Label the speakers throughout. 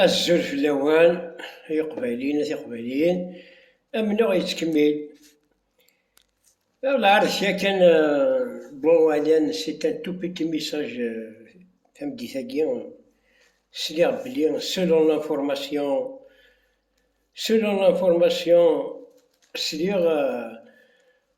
Speaker 1: Azul fell-awen ay iqbayliyen a tiqbayliyin, amennuɣ yettkemmil. Lɛar d kra kan bon alan c'est un tout petit message tameddit-agi sliɣ belli selon l'information selon l'information sliɣ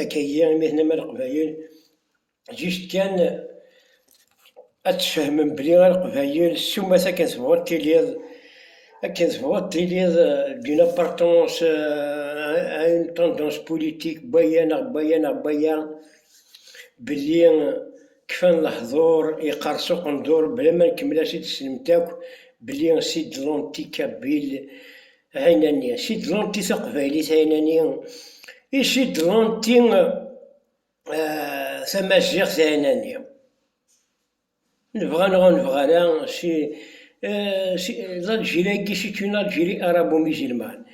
Speaker 1: Akagi imi tenam a Leqbayel, jijt kan ad tfehmem belli a Leqbayel summet akken tebɣuḍ tiliḍ, akken tebɣuḍ tiliḍ d'une appartenance à une tendance politique n waya neɣ n waya neɣ n waya, belli kfan lehdur, yeqqers uqendur, bla ma nkemmel ad t-id-tessnemt akk belli c'est de l'anti-kabyle. Ɛinani, Sidlenti taqbaylit Ɛinani, Isidlenti tamaziɣt Ɛinani. Nebɣa neɣ ur nebɣi ara, Alǧiri-agi, c'est une Algérie arabo-musulmane,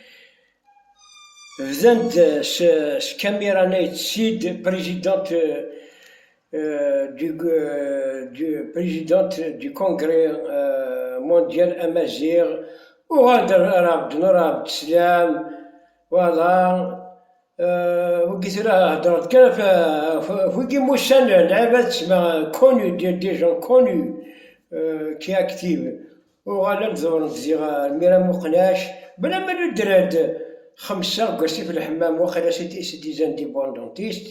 Speaker 1: bdan-d s Camera Nayt Sid, President, du président du congrès mondial amazigh uɣal-d ar ɛebdun ar ɛebdeslam voilà wigi tura heddreɣ-d kan ɣef wigi musan lɛibad tesma connu des gens connu qui est active uɣalen-d ḍewren-d ziɣ ar mira muqnac bla ma nudren-d xemsa deg wasif n lḥemmam waqila c'est des indépendantistes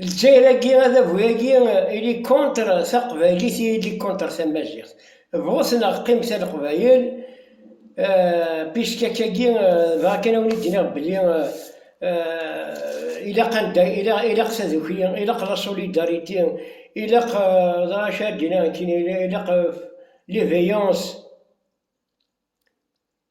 Speaker 1: Lezzayer-agi, adabu-agi, il est contre taqbaylit et il est contre tamaziɣt. Bɣut neɣ qqimet a leqbayel, puisque akka-agi dɣa kan a wen-id-iniɣ belli ilaq anda, ilaq tadukli, ilaq la solidarité, ilaq dɣa acu ara d-iniɣ nekkini, ilaq l'éveillance.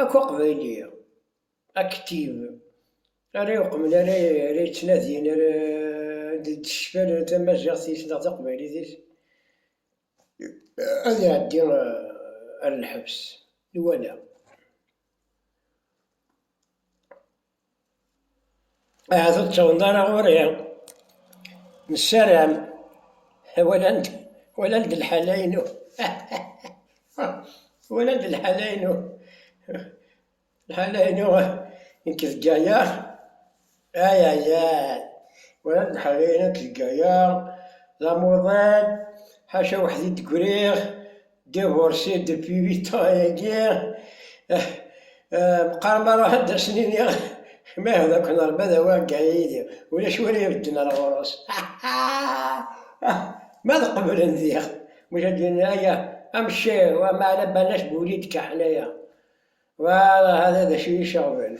Speaker 1: Akk Aqbayli Aktiv ara iqemen, ara yettnadin, ara d-tecfal tamaziɣt-is neɣ taqbaylit-is, ad iɛeddi ar lḥebs. Nwala. Ahat ur ttawḍen ara ɣur-i. Nessaram walan-d walan-d lḥala-inu. walan-d lḥala-inu. Lḥala-inu nekk deg aya. Ayayay. Walan-d lḥala-inu nekk deg aya. D amuḍin, ḥaca weḥd-i d-griɣ. Divorcée depuis huit ans et guerre. Meqqar ma ruḥ ad asen iniɣ ma iɛud akk neṛba d awagga yid-i, ulac win ara ibedden ar ɣur-s. Ma ad qeblen diɣ, maca d-yenna aya amcir, wa maɛna Banac Boulid Kaḥnaya. Well, hada d acu iyi-ceɣben.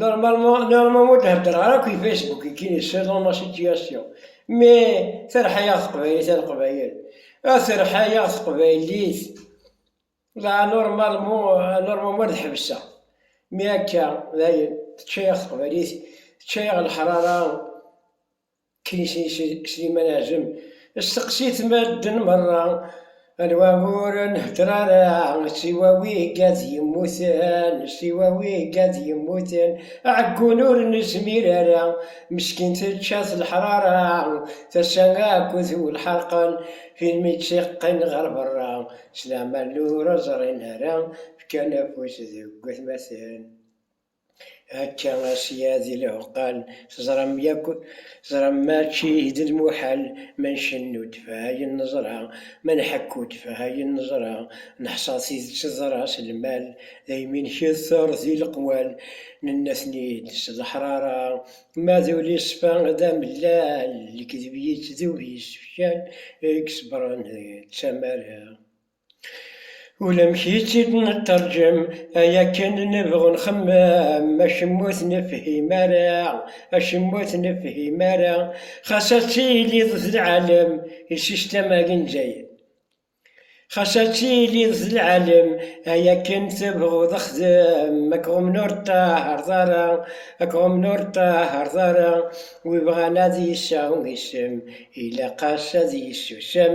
Speaker 1: Normalement, normalement ur d-heddreɣ ara akk i Facebook, ikin i selon ma situation. Mais, terḥa-yaɣ teqbaylit a leqbayel. A terḥa-yaɣ teqbaylit. La, normalement, normalement ad ḥebseɣ. Mais akka, dayen, tečča-yaɣ teqbaylit, tečča-yaɣ leḥrara. Kaysen Sliman Azem, steqsit medden merra, anwa ur nhedder ara, siwa wigga d yemmuten, siwa wigga d yemmuten, aɛeggun ur nezmir ara, meskin tečča-t leḥrara, tasa akk tuw lḥerqen, filmi tt-iqqen ɣer berra, s lamal ur ẓrin ara, fkan afus deg watmaten. Akka asya di leɛqal teẓram yakk teẓram mačči d lmuḥal ma ncennu ddfeɛ ayen neẓra, ma nḥekku ddfeɛ ayen neẓra, neḥṣa tidet teḍra s lmal, daymi nketter di leqwal, nenna-ten-id s leḥrara, ma d ulisfa d amellal, lekdeb yettdub yessefcal i iṣebren d tamara. Ulamek itt-id nettṛeǧǧem ay akken nebɣu nxemmem, acemma ur t-nefhim ara, acemma ur t-nefhim ara, xas ad tiliḍ d lɛalem i sistam-agi n Zzayer, xas ad tiliḍ d lɛalem ay akken tebɣuḍ xdem, ad k-ɣummen ur ṭṭahareḍ ara, ad k-ɣummen ur ṭṭahareḍ ara, wi bɣan ad yesɛu isem ilaq-as ad yessusem.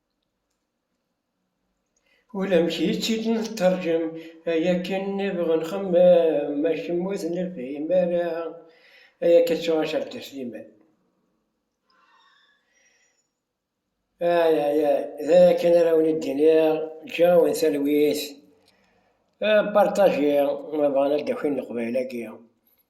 Speaker 1: Ulamek i tt-id nettṛǧam ay akken nniḍeɣ nxemmem, ma kemm ur tnefhim ara ay akka ttuɣacer d Sliman. Ay ay ay, d ay akken ara wen id-iniɣ, ǧǧiɣ-awen talwit, partager ma bɣan ad d-akin leqbayel-agi.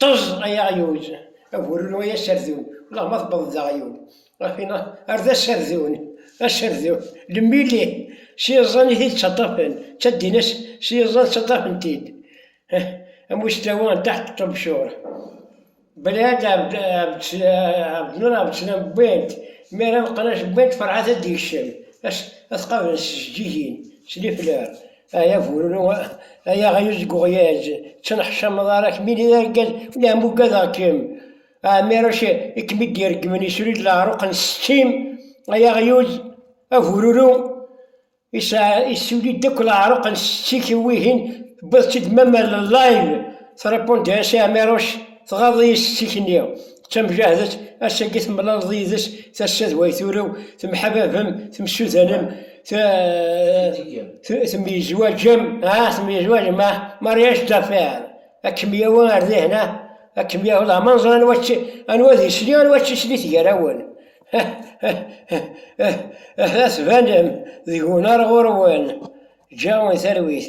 Speaker 1: Ṭṭeẓ ay aɣyul, a bururu ay aserdun, ulaɣma tewweḍ-d d aɣyul, ɣef wina ar d aserdun, aserdun, lemmili, s yiẓẓan i t-id-ttaṭṭafen, ttaddin-as s yiẓẓan ttaṭṭafen-t-id, am uslawa n Taḥt Ṭṭebcur, Belɛid Ɛebdnur Ɛebdeslam wwin-t, mi ara meqqen ass wwin-t Ferḥat ad d-yekcem, ad t-qablen s tjeǧǧigin, s liflar. Ay abururu, ay aɣyul deg uɣyaz, ttenneḥcameḍ ara kemm ini d argaz, nehem ugadeɣ-kem. Ɛmiruc i kem-id-ireggmen isru-d leɛruq n setti-m, ay aɣyul, abururu, isɛa, issuli-d akk leɛruq n setti-k i wihin, tewwiḍ-tt-id mama n live, trepondea-s i Ɛmiruc, tɣaḍ-iyi setti-k-nni, d tamjahdet, ass-agi temlaleḍ yid-s, tassa d way turew, temḥababem, temsudanem, temyezwaǧem, ah, temyezwaǧem, ah, mariage d'affaires, ad kem-yawi ar dihna, ad kem-yawi d amanẓer anwa anwa d isli, anwa d tisli tger-awen. Ad tbanem deg-wen ar ɣur-wen, ǧǧa-wen talwit.